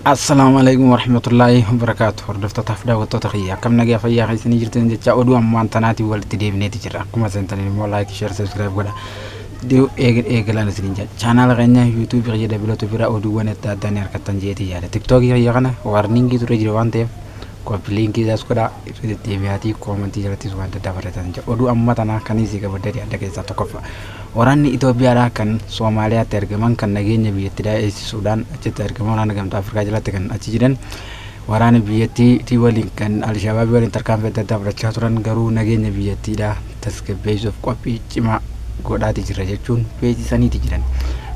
Assalaamu alaikum warahmatullaahi wabarakaatu hordoftotaaf daawwattoota kiyya akkam nagaa fayyaa keessanii jirtan jecha oduu ammaan tanaatiin walitti deebineeti jira akkuma seentaniin immoo laayik sheer sabiskiraayib godha deebi'u eegil eegilaan isiniin jedha chaanaala keenya yuutuubii kiyya dabalatu bira oduuwwan adda addaa ni argattan jeetii yaada tiktookii kiyya kana waarniingii ture jira waan ta'eef Kooppi liinkii isaas godhaa irra deddeebi'aatii koomantii jalattis wanta addaa barreessaa jira. Oduu amma tanaa kan isii gabaddee adda keessaa tokkoffaa. Waraanni Itoophiyaadhaa kan Soomaaliyaatti argaman kan nageenya biyyattii daa'eessisuudhaan achitti argaman waraana gamtaa Afrikaa jalatti kan achi jiran waraana biyyattii waliin kan Alshabaabii waliin tarkaanfii adda addaa fudhachaa turan garuu nageenya biyyattiidhaa tasgabbeessuuf qophii cimaa godhaati jirra jechuun beeksisaniiti jiran.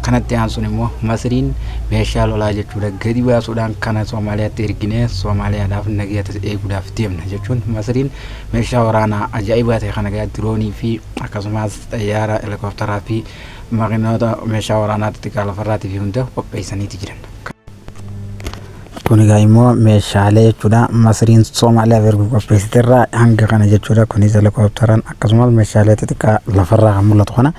Kanatti aansuun immoo Masriin meeshaa lolaa jechuudha gadi baasuudhaan kana Soomaaliyaatti erginee Soomaaliyaadhaaf nagaa tasa eeguudhaaf deemna jechuun Masriin meeshaa waraanaa ajaa'ibaa ta'e kana egaa diroonii fi akkasumas xayyaara helikoptaraa fi makiinota meeshaa waraanaa xixiqqaa lafarraatii fi hunda qopheessaniiti jiran. Kun egaa immoo meeshaalee jechuudha masriin Somaaliyaaf ergu qopheessite irraa hanga kana jechuudha kunis helikopteran akkasumas meeshaalee xixiqqaa lafarraa kan mul'atu kana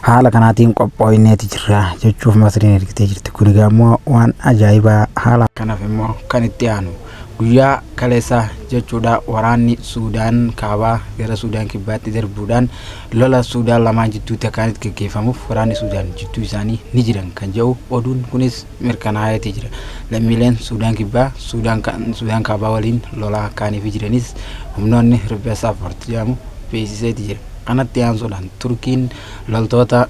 haala kanaatiin qophooyneeti jirra jechuuf masriin ergitee jirti kun egaa immoo waan ajaa'ibaa haala kanaaf immoo kan itti aanu guyyaa kaleessaa jechuudha waraanni Suudaan kaabaa gara Suudaan kibbaatti darbuudhaan lola Suudaan lamaan jidduutti akkaan itti gaggeeffamuuf waraanni Suudaan jidduu isaanii ni jiran kan jedhu oduun kunis mirkanaa'eeti jira. Lammiileen Suudaan Kibbaa Suudaan Kaabaa waliin lolaa kaaniifi jiranis humnoonni riphee Saaphoort jedhamu beeksiseeti jira. Kanatti aansuudhaan Turkiin loltoota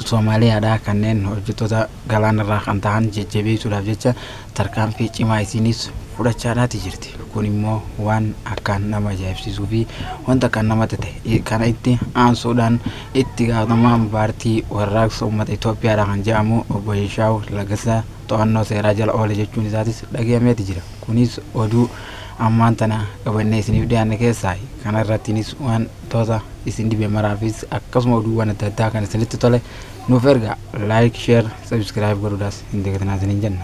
Soomaaliyaadhaa kanneen hojjettoota galaanarraa kan tahan jajjabeessuudhaaf jecha tarkaanfii cimaa isiinis fudhachaadhaati jirti. Kun immoo waan akkaan nama ajaa'ibsiisuu fi wanta akkaan namatti ta'e. Kana itti aansuudhaan itti gaafatamaan paartii warraaqsa uummata Itoophiyaadha kan jedhamu obbo Yeshaaw Lagasa to'annoo seeraa jala oole jechuun isaatis dhagahameeti jira. Kunis oduu ammaan tana qabannee isiniif dhiyaanne keessaa kana irrattiinis waan toota isin dhibe maraafis akkasuma oduuwwan adda addaa kan isinitti tole nuuf erga like share Subscribe godhuudhaas hin dagatinaa isiniin jenna.